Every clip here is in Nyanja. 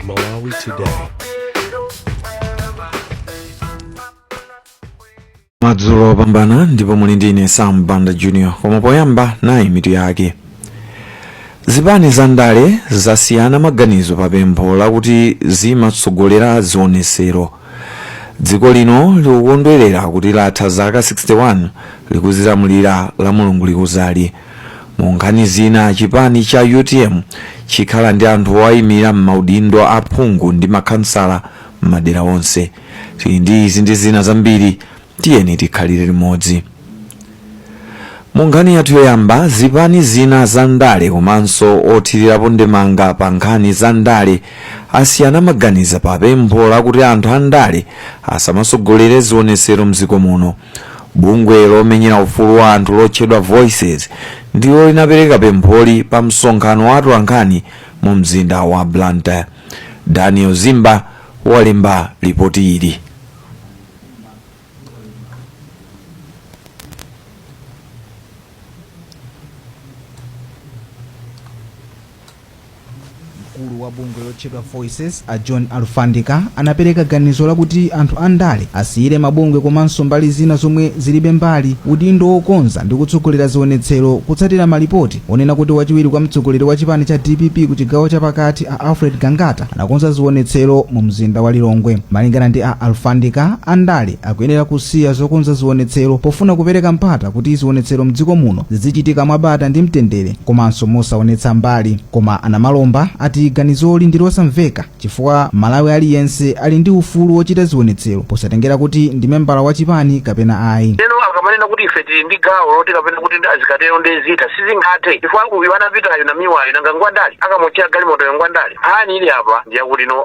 Malawi Today. madzulo opambana ndipo muli ndi ine sam banda junior koma poyamba nayi mitu yake zipani za ndale zasiyana maganizo pa pempho lakuti zimatsogolera zionetsero dziko lino likukondwerera kuti latha zaka 61 likuzilamulira la mulungu likuzali Mu nkhani zina, chipani cha utm chikhala ndi anthu owaimira m'maudindo a phungu ndi makhansala m'madera onse. Tili ndi izi ndi zina zambiri, tiyeni tikhalire limodzi. Mu nkhani yathu yoyamba, zipani zina za ndale komanso othirirapo ndemanga pa nkhani za ndale asiyana maganizo pa pempho lakuti anthu a ndale asamatsogolere zionetsero m'dziko muno. Bungwe lomenyera ufulu wa anthu lotchedwa Voices ndilo linapereka pempholi pa msonkhano wa atolankhani mu mzinda wa Blantyre. Daniel Zimba walemba lipoti ili. Mkulu wa bungwe lotchedwa Voices, a John Alfandika, anapereka ganizo lakuti anthu a ndale asiyire mabungwe komanso mbali zina zomwe zilibe mbali udindo wokonza ndi kutsogolera zionetsero kutsatira malipoti onena kuti wachiwiri kwa mtsogoleri wa chipani cha dpp ku chigawo cha pakati a Alfred Gangata anakonza zionetsero mu mzinda wa Lilongwe. Malingana ndi a Alfandika, a ndale akuyenera kusiya zokonza zionetsero pofuna kupereka mpata kuti zionetsero mdziko muno zidzichitika mwabata ndi mtendere. komanso mosaonetsa mbali. Koma a Namalomba ati ganizoli ndi losamveka chifukwa m'Malawi aliyense ali ndi ufulu wochita zionetsero posatengera kuti ndi membala wa chipani kapena ayi. Ndeno akamanena kuti ife tili ndi gawo loti kapena kuti azikatero nde zitha sizingathe chifukwa uyu anapitayo Namiwayo nanga ngwandale akamuotchera galimotoyo ngwandale nkhani ili apa ndiyakuti no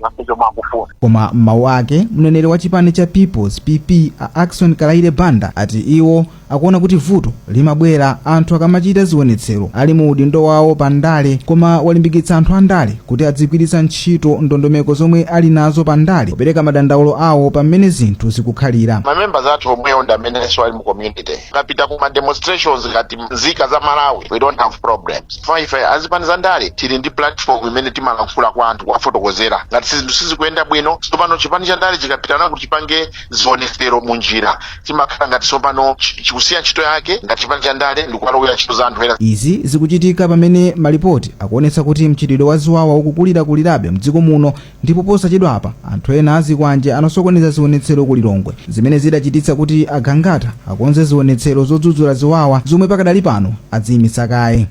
zonse zomwe akufuna koma m'mawu ake mneneri wa chipani cha peoples pp a ackson kalaile banda ati iwo akuona kuti vuto limabwera anthu akamachita zionetsero ali mu udindo wawo pa ndale koma walimbikitsa anthu a ndale kuti adzigwiritsa ntchito ndondomeko zomwe ali nazo pa ndale kupereka madandaulo awo pamene zinthu zikukhalira mamembers athu omwewo ndi amenenso ali mu community akapita ku ma demonstrations ngati nzika za malawi we don't have problems chifukwa ife azipani za ndale tili ndi platform imene timalankhula kwa anthu kuwafotokozera ngati sizinthu sizikuyenda bwino tsopano chipani cha ndale chikapitano kuti chipange zionetsero mu njira chimakhala ngati tsopano chi- chikusiya ntchito yake ngati chipani cha ndale ndikuwalowera ntchito za anthu ena izi zikuchitika pamene malipoti akuonetsa kuti mchitidwe wa ziwawa ukukulirakulirabe mdziko muno Ndipo posachedwapa anthu ena azikwanje anasokoneza zionetsero ku Lilongwe zimene zidachititsa kuti a Gangata akonze zionetsero zodzudzula ziwawa zomwe pakadali pano adziimitsa kaye.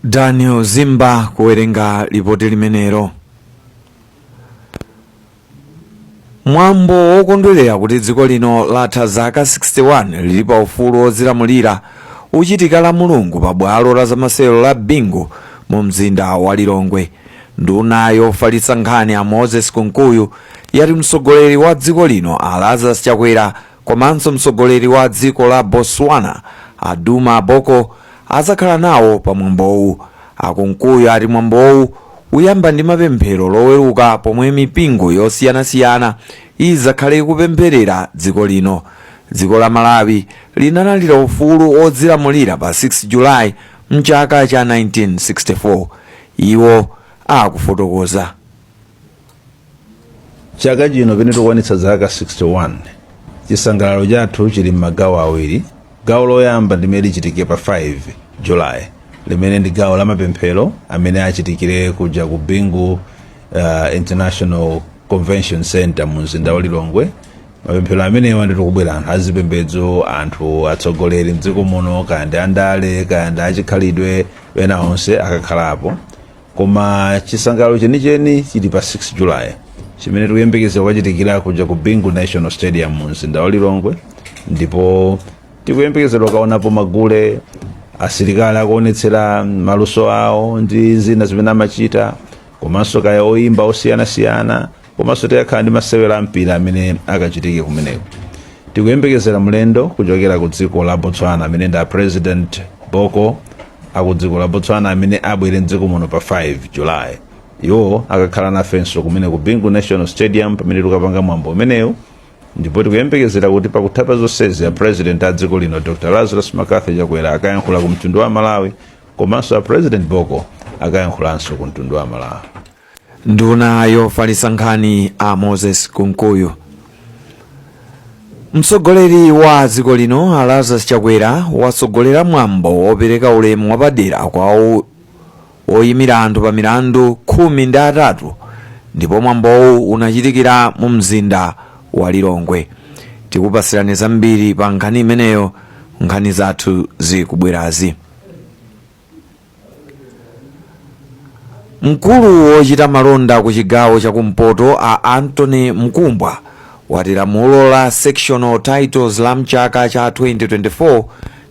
Daniel Zimba kuwerenga lipoti limenelo. mwambo wokondwerera kuti dziko lino latha zaka 61 lili pa ufulu wodzilamulira uchitika la mulungu pa bwalo la zamasewero la bingu mu mzinda wa lilongwe nduna yofalitsa nkhani a moses kunkuyu yati mtsogoleri wa dziko lino a lazarus chakwera Komanso mtsogoleri wa dziko la Botswana a Duma Boko adzakhala nawo pa mwambowu. A Kunkuyu ati mwambowu uyamba ndi mapemphero loweruka pomwe mipingo yosiyanasiyana idzakhale kupempherera dziko lino. Dziko la Malawi linalandira ufulu wodzilamulira pa 6 July mchaka cha 1964. Iwo akufotokoza. chaka chino pene tikukwanitsa zaka 61 chisangalalo chathu chili m'magawo awiri gawo loyamba limene lichitike pa 5 julayi limene ndi gawo la mapemphero amene achitikire kuja ku bingu international convention center mu mzinda wa lilongwe mapemphero amenewa ndi tikubwera anthu azipembedzo anthu atsogoleri mdziko muno kaya ndi andale kaya ndi achikhalidwe ena onse akakhalapo Koma chisangalalo chenicheni chili pa 6 July chimene tikuyembekeza kukachitikira kuja ku Bingu National Stadium mu mzinda wa Lilongwe ndipo tikuyembekeza kukaonapo magule asilikali akuonetsera maluso awo ndi zina zimene amachita komanso kaya oyimba osiyanasiyana komanso tikakhala ndi masewero a mpira amene akachitike kumeneko tikuyembekezera mlendo kuchokera ku dziko la botswana amene ndi a president boko aku dziko la botswana amene abwere mdziko muno pa 5 july iwo akakhala nafenso kumene ku bingu national stadium pamene tikapanga mwambo umenewu ndipo tikuyembekezera kuti pakutha pa zonsezi a president a dziko lino dr lazarus mccarthy chakwera akayankhula ku mtundu wa malawi komanso a president boko akayankhulanso ku mtundu wa malawi Nduna yofalitsa nkhani a Moses Kunkuyu. Mtsogoleri wa dziko lino a Lazarus Chakwera watsogolera mwambo wopereka ulemu wapadera kwa o- oyimira anthu pa milandu khumi ndi atatu ndipo mwambowu unachitikira mu mzinda wa Lilongwe. Tikupatsirani zambiri pa nkhani imeneyo nkhani zathu zikubwerazi. Mkulu wochita malonda ku chigawo cha kumpoto a Anthony Mkumbwa wati lamulo la sectional titles la mchaka cha 2024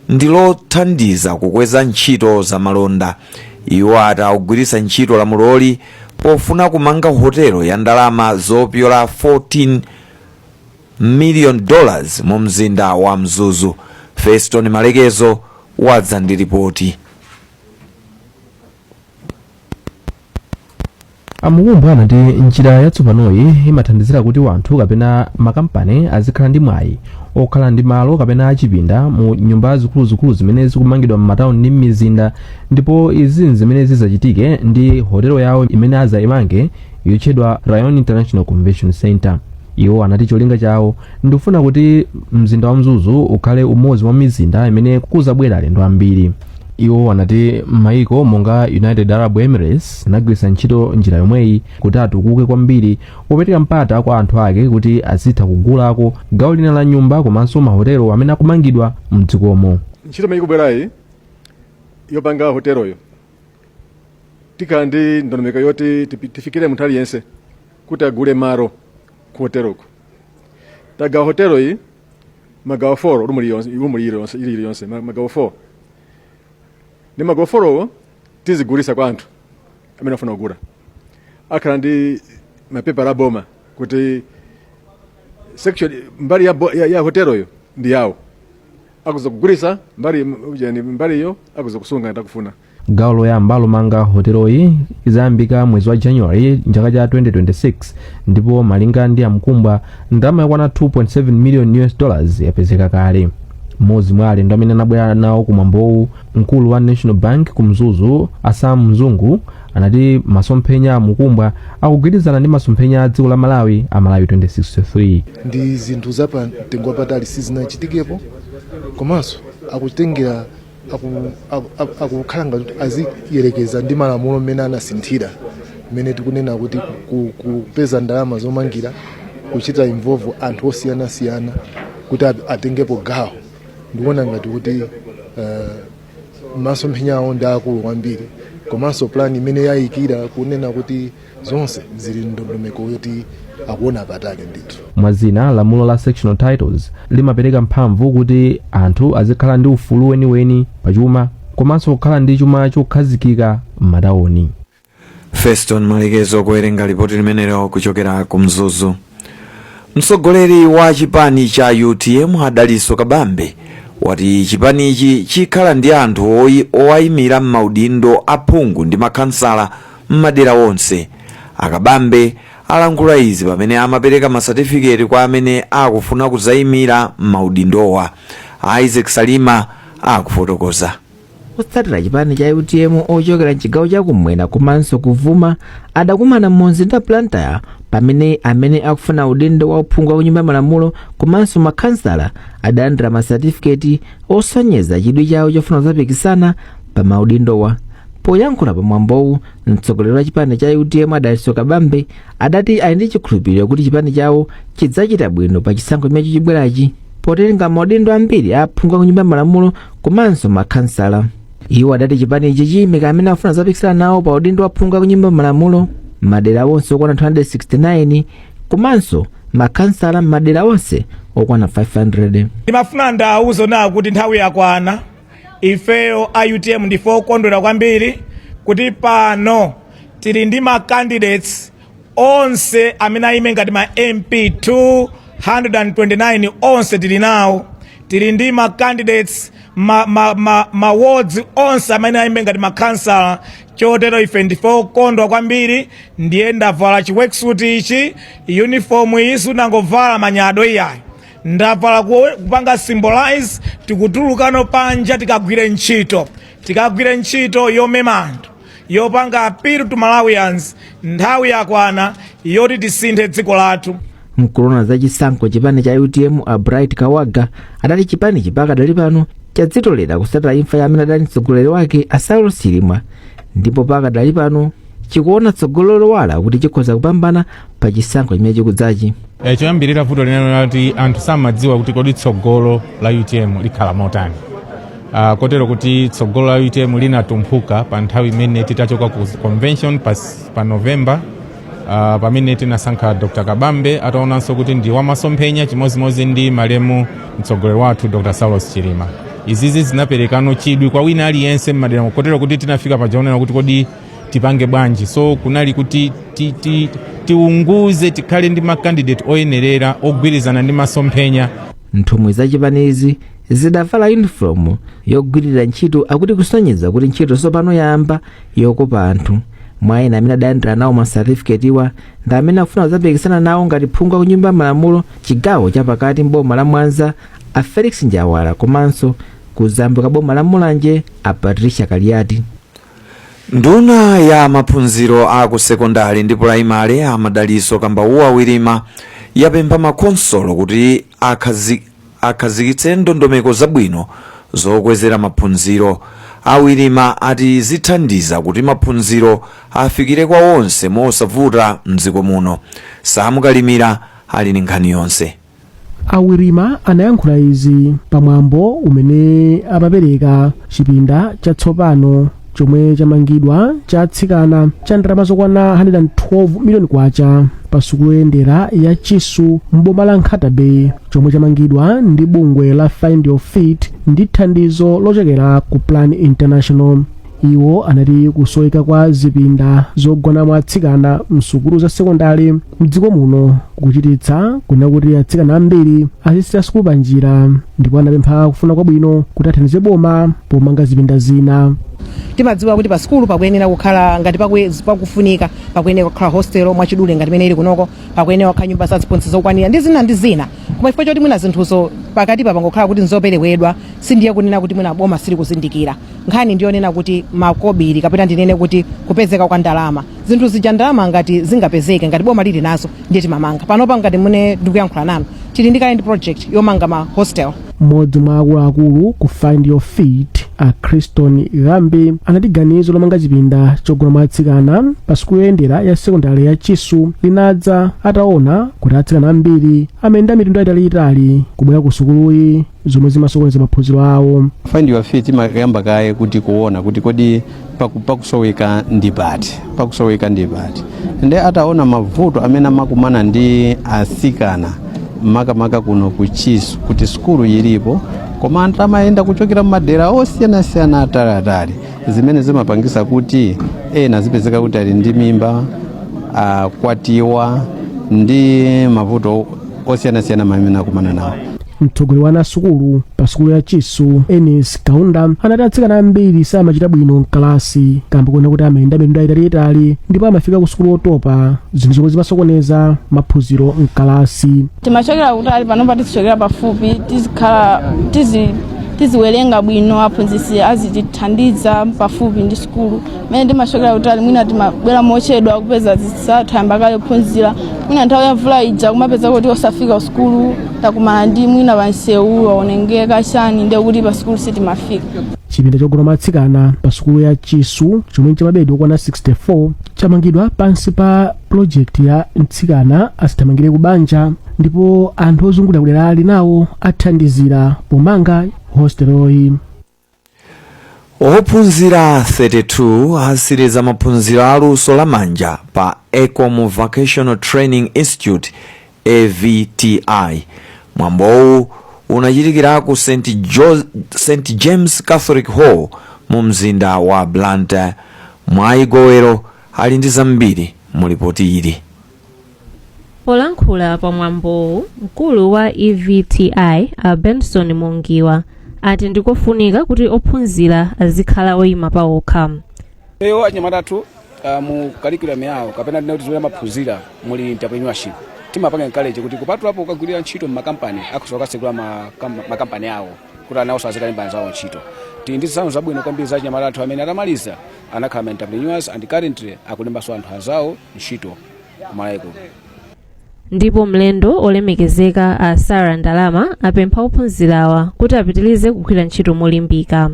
ndi lothandiza kukweza ntchito za malonda. Iwo ati akugwiritsa ntchito lamuloli pofuna kumanga hotelo ya ndalama zopyola 14 million dollars mu mzinda wa Mzuzu. Feston Malekezo wadza ndi lipoti. a Mkumbwa anati njira yatsopanoyi imathandizira kuti wanthu kapena makampani azikhala ndi mwayi okhala ndi malo kapena achipinda mu nyumba zikuluzikulu zimene zikumangidwa m'matauni ndi m'mizinda ndipo izi nzimene zizachitike ndi hotelo yawo imene azaimange yotchedwa Ryan international convention center Iwo anati cholinga chawo ndikufuna kuti mzinda wa Mzuzu ukhale umodzi mwa mizinda imene kuzabwera alendo ambiri. Iwo anati maiko monga United Arab Emirates anagwiritsa ntchito njira yomweyi kuti atukuke kwambiri popereka mpata kwa anthu ake kuti azitha kugulako gawo lina la nyumba komanso mahotelo amene akumangidwa mdzikomo. Ntchito imene ikubwerayi yopanga hoteloyo tikhala ndi ndondomeko yoti tipi- tifikire munthu aliyense kuti agule malo ku hoteloko tagawa hotelo iyi magawo 4 rumu liyonse rumu liyonse ili liyonse ma- magawo 4 ndi magawo 4wo tizigulisa kwa anthu amene afuna kugula akhala ndi mapepala aboma kuti section mbali ya, bo- ya, ya hoteloyo ndi yawo akutha kugulisa mbali yani mbaliyo akutha kusunga ngati akufuna gawo loyamba lomanga hoteloyi izayambika mwezi wa january mchaka cha 2026 ndipo malinga ndi a Mkumbwa ndalama yokwana 2.7 million us dollars yapezeka kale mmodzi mwa alendo amene anabwera nawo kumwambowu mkulu wa national bank ku mzuzu a Sam Mzungu anati masomphenya a Mkumbwa akugwirizana ndi masomphenya a dziko la malawi a malawi 2063 ndi zinthu za pa mtengo wapatali sizinachitikepo komanso akutengera aku- aku- aku- akukhala ngati kuti aziyerekeza ndi malamulo mmene anasinthira mmene tikunena kuti ku- ku- kupeza ndalama zomangira kuchita involve anthu osiyanasiyana kuti at- atengepo gawo ndikuona ngati kuti eh, masomphenya awo ndi akulu kwambiri komanso plan imene ayikira kunena kuti zonse zili ndondomeko yoti akuona patali ndithu mwa zina lamulo la sectional titles limapereka mphamvu kuti anthu azikhala ndi ufulu weniweni pa chuma komanso kukhala ndi chuma chokhazikika m'matawuni feston malekezo kuwerenga lipoti limenelo kuchokera ku mzuzu mtsogoleri wa chipani cha utm a dalitso kabambe wati chipanichi chikhala ndi anthu oyi- owayimira m'maudindo aphungu ndi makhansala m'madera onse. A Kabambe alankhula izi pamene amapereka masatifiketi kwa amene akufuna kudzaimira m'maudindowa. Isaac Salima akufotokoza. otsatira chipani cha utm ochokera mchigawo chakumwera komanso kuvuma adakumana mumzinda wa blantyre pamene amene akufuna udindo wa uphungu wa kunyumba ya malamulo komanso makhansala adalandira masatifiketi osonyeza chidwi chawo chofuna kudzapikisana pa maudindowa Poyankhula pa mwambowu, mtsogoleri wa chipani cha utm a Dalitso Kabambe adati ali ndi chikhulupiriro kuti chipani chawo chidzachita bwino pa chisankho chimene chikubwerachi potenga maudindo ambiri a aphungu a ku nyumba ya malamulo komanso makhansala. Iwo adati chipanichi chiyimika amene akufuna kudzapikisana nawo pa udindo wa aphungu a ku nyumba ya malamulo m'madera onse okwana 269 komanso makhansala m'madera onse okwana 500. ndimafuna ndiwauzeno kuti nthawi yakwana ifeyo a utm ndife okondwera kwambiri kuti pano tili ndi ma candidates onse amene ayime ngati ma mp 229 onse tili nawo tili ndi ma candidates ma, ma, ma, ma wards onse amene ayime ngati ma councillor chotero ife ndife okondwa kwambiri ndiye ndavala chi worksuit ichi uniform iyi sindinangovala manyado iyayi ndavala kuwe- kupanga symbolize tikutulukano panja tikagwire ntchito tikagwire ntchito yomema anthu yopanga appeal to malawians nthawi yakwana yoti tisinthe dziko lathu mkulu woona za chisankho m'chipani cha utm a bright kawaga adati chipanichi pakadali pano chadzitolera kutsatira imfa ya amene adali mtsogoleri wake a saulos chilima ndipo pakadali pano chikuona tsogolo lowala kuti chikhoza kupambana pa chisankho chimene chikudzachi E, choyambirira vuto linali lonena kuti anthu samadziwa kuti kodi tsogolo la utm likhala motani Ah, kotero kuti tsogolo la utm linatumphuka pa nthawi imene titachoka ku convention pa, s- pa november ah, pamene tinasankha dr kabambe ataonanso kuti ndi wamasomphenya chimodzimodzi ndi malemu mtsogoleri wathu dr saulos chilima izizi zinaperekano chidwi kwa wina aliyense mmadera kotero kuti tinafika paja onena kuti kodi tipange bwanji so kunali kuti ti, ti, tiunguze tikhale ndi makandidate oyenerera ogwirizana ndi masomphenya nthumwi za chipanizi zidavala yunifomu yogwirira ntchito akuti kusonyeza kuti ntchito tsopano yayamba yokopa anthu mwa ena amene adalandira nawo masatifiketiwa ndi amene akufuna kudzapikisana nawo ngati phungu wa kunyumba ya malamulo chigawo chapakati mboma la mwanza a felix njawala komanso kuzambwe kwa boma la mulanje a patricia kaliati nduna ya maphunziro a ku sekondari ndi pulayimale a madaliso kambauwa wirima yapempha makhonsolo kuti akhazi- akhazikitse ndondomeko zabwino zokwezera maphunziro a wirima ati zithandiza kuti maphunziro afikire kwa onse mosavuta mdziko muno sam kalimira ali ndi nkhani yonse a wirima anayankhula izi pamwambo umene amapereka chipinda chatsopano chomwe chamangidwa cha atsikana cha ndalama zokwana 112 miliyoni kwacha pa sukulu yoyendera ya chisu m'boma la nkhata bay chomwe chamangidwa ndi bungwe la find your feet ndi thandizo lochokera ku plan international iwo anati kusoweka kwa zipinda zogonamo atsikana msukulu za sekondale mdziko muno kuchititsa kunena kuti atsikana ambiri azisiya sukulu pa njira ndipo anapempha akufuna kwabwino kuti athandize boma pomanga zipinda zina timadziwa kuti pa sukulu pakuyenera kukhala ngati pakwe- pakufunika pakuyenera kukhala hostel mwachidule ngati imene ili kunoko pakuyenera kukhala nyumba za aziphunzitsi zokwanira ndi zina ndi zina koma chifukwa choti mwina zinthuzo pakatipa pangokhala kuti nzoperewera sindiye kunena kuti mwina boma silikuzindikira nkhani ndiyonena kuti makobiri kapena ndinene kuti kupezeka kwa ndalama zinthu zija ndalama ngati zingapezeke ngati boma lili nazo ndiye timamanga panopa ngati mmene ndikuyankhula nanu tili ndi kale ndi project yomanga ma hostel mmodzi mwa akuluakulu ku find your feet a criston ghambi anati ganizo lomanga chipinda chogonamo atsikana pa sukulu yoyendera ya sekondari ya chisu linadza ataona kuti atsikana ambiri amayenda mitunda italiitali kubwera ku sukuluyi zomwe zimasokoneza maphunziro awo find your feet imayamba kaye kuti kuona kuti kodi paku- pakusoweka ndi pati pakusoweka ndi pati nde ataona mavuto amene amakumana ndi asikana makamaka kuno ku chisu kuti sukulu ilipo koma anthu amayenda kuchokera mmadera osiyanasiyana ataliatali zimene zimapangisa kuti ena azipezeka kuti ali ndi mimba akwatiwa ndi mavuto osiyanasiyana amene akumana nawo mtsogoleri wa ana a sukulu pa sukulu ya chisu enis kaunda anati atsikana ambiri samachita bwino mkalasi kamba konena kuti amayenda mitunda itaiitali ndipo amafika ku sukulu otopa zinthu zomwe zimasokoneza maphunziro mkalasi timachokera kutali panopa tizichokera pafupi tizikhala tizi tiziwerenga bwino aphunzitsi azitithandiza pafupi ndi sukulu mene timachokera kutali mwina timabwera mochedwa kupeza anzathu ayamba kale kuphunzira mwina nthawi ya mvula ija kumapeza kuti osafika kusukulu takumana ndi mwina pamsewu waonengeka chani ndiye kuti pa sukulu sitimafika chipinda chogona matsikana pa sukulu ya chisu chomwe ndi cha mabedi okwana 64 chamangidwa pansi pa pulojekiti ya mtsikana asithamangire ku banja ndipo anthu ozungulira kuderali nawo athandizira pomanga hositeloyi ophunzira 32 atsiriza maphunziro a luso la manja pa ecom vocational training institute evti mwambowu unachitikira ku st james catholic hall mu mzinda wa blantyre mwayi gowero ali ndi zambiri mu lipoti ili polankhula pa mwambowu mkulu wa evti a benson mungiwa ati ndikofunika kuti ophunzira azikhala oyima pawokha eyo achinyamata athu uh, mu curriculum yawo kapena tinati zimene amaphunzira muli entrepreneurship timapanga encourage kuti kupatulapo kukagwirira ntchito m'makampani akhoza kukatsekula makampani awo kuti iwonso azikalemba anzawo ntchito tili ndi zitsanzo zabwino kwambiri za achinyamata athu amene atamaliza anakhala ma entrepreneurs and currently akulembanso anthu anzawo ntchito kumalawi kuno ndipo mlendo olemekezeka a sara ndalama apempha ophunzirawa kuti apitirize kugwira ntchito molimbika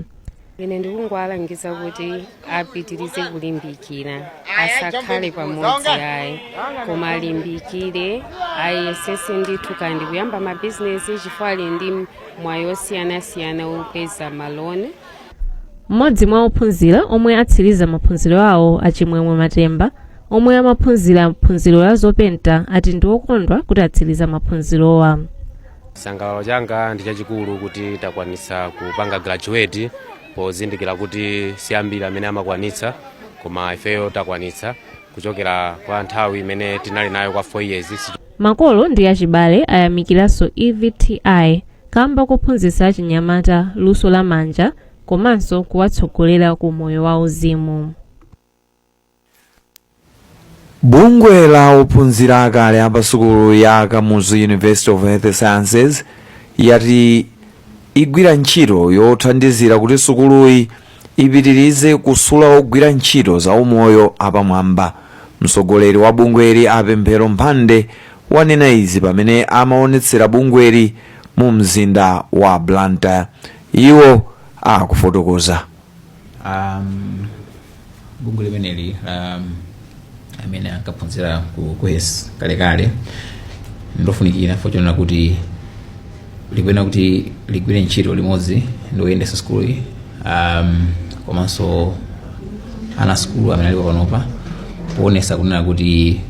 ine ndikungowalangiza kuti apitirize kulimbikira asakhale pamodzi ayi koma alimbikire ayesese ndithu ndi kuyamba mabizinesi chifukwa ali ndi mwayi osiyanasiyana opeza maloni mmodzi mwa ophunzira omwe atsiriza maphunziro awo a chimwemwe matemba omwe amaphunzira phunziro la zopenta ati ndi okondwa kuti atsiriza maphunzirowa chisangalalo changa ndi chachikulu kuti takwanitsa kupanga graduate pozindikira kuti si ambiri amene amakwanitsa koma ifeyo takwanitsa kuchokera kwa nthawi imene tinali nayo kwa 4 years makolo ndi achibale ayamikiranso evti kamba kophunzitsa achinyamata luso la manja komanso kuwatsogolera ku moyo wa uzimu bungwe la ophunzira akale a pasukulu ya kamuzu university of health sciences yati igwira ntchito yothandizira kuti sukuluyi ipitirize kusula ogwira ntchito za umoyo apamwamba. Mtsogoleri wa bungweli a Pemphero Mphande wanena izi pamene amaonetsera bungweli mu mzinda wa Blantyre. Iwo akufotokoza. um, bungwe limeneli la um, amene ankaphunzira ku kuhes kalekale ndilofunikira potengera kuti likuyenera kuti ligwire ntchito limodzi ndi oyendetsa sukulu um, komanso ana sukulu amene alipo panopa poonetsa kunena kuti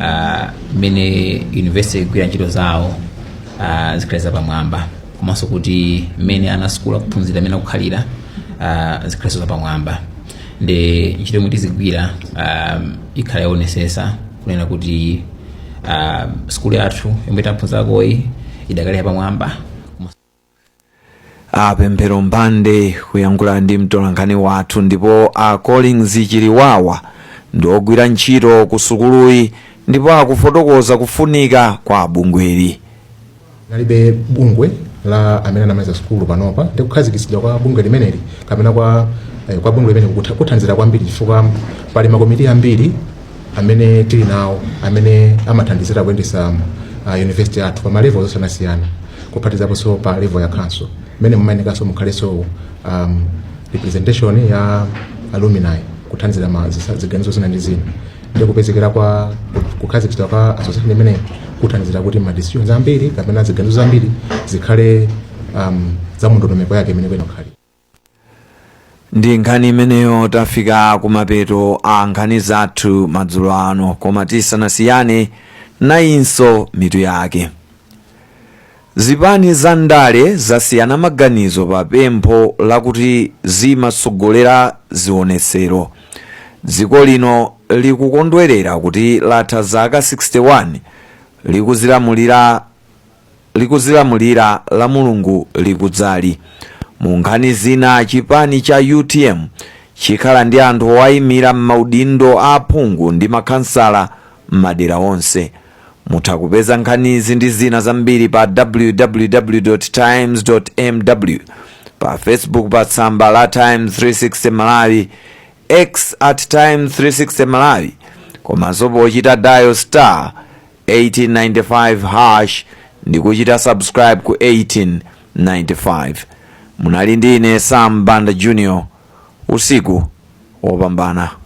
ah, mmene uh, university igwira ntchito zawo uh, zikhale zapamwamba komanso kuti mmene ana sukulu akuphunzira mmene akukhalira uh, zikhalenso zapamwamba ndi ntchito yomwe tizigwira um, ikhala yowonetsetsa kunena kuti um, sukulu yathu yomwe taphunzirakoyi idakali yapamwamba a pemphero mphande kuyankhula ndi mtolankhani wathu ndipo a collins chiliwawa ndi ogwira ntchito ku sukuluyi ndipo akufotokoza kufunika kwa bungweli Kunalibe bungwe la amene anamaliza sukulu panopa ndi kukhazikitsidwa kwa bungwe limeneli kapena kwa eh, kwa bungwe limeneli kutha- kuthandizira kwambiri chifukwa pali makomiti ambiri amene tili nawo amene amathandizira kuyendetsa uh, university yathu pa ma level osiyanasiyana kuphatikizaponso pa level ya council mmene mumayenekanso mukhalenso um, representation ya alumni kuthandizira ma zisa- ziganizo zina ndi zina ndi kupezekera kwa kukhazikitsidwa kwa association imeneyi kuthandizira kuti ma decisions ambiri kapena ziganizo zambiri zikhale um, za mundondomeko yake imene ikuyenera kukhala ndi nkhani imeneyo tafika kumapeto a nkhani zathu madzulo ano koma tisanasiyane nayinso mitu yake Zipani za ndale zasiyana maganizo pa pempho lakuti zimatsogolera zionetsero. Dziko lino likukondwerera kuti latha zaka 61 likudzilamulira lamulungu likudzali. Mu nkhani zina, chipani cha utm chikhala ndi anthu owaimira m'maudindo a aphungu ndi makhansala m'madera onse. Mutha kupeza nkhanizi ndi zina zambiri pa www times mw, pa Facebook pa tsamba la Times 360 Malawi, X at Times 360 Malawi, komanso pochita dial star 1895 hash ndi kuchita subscribe ku 1895. Munali ndi ine Sam Banda Junior, usiku wopambana.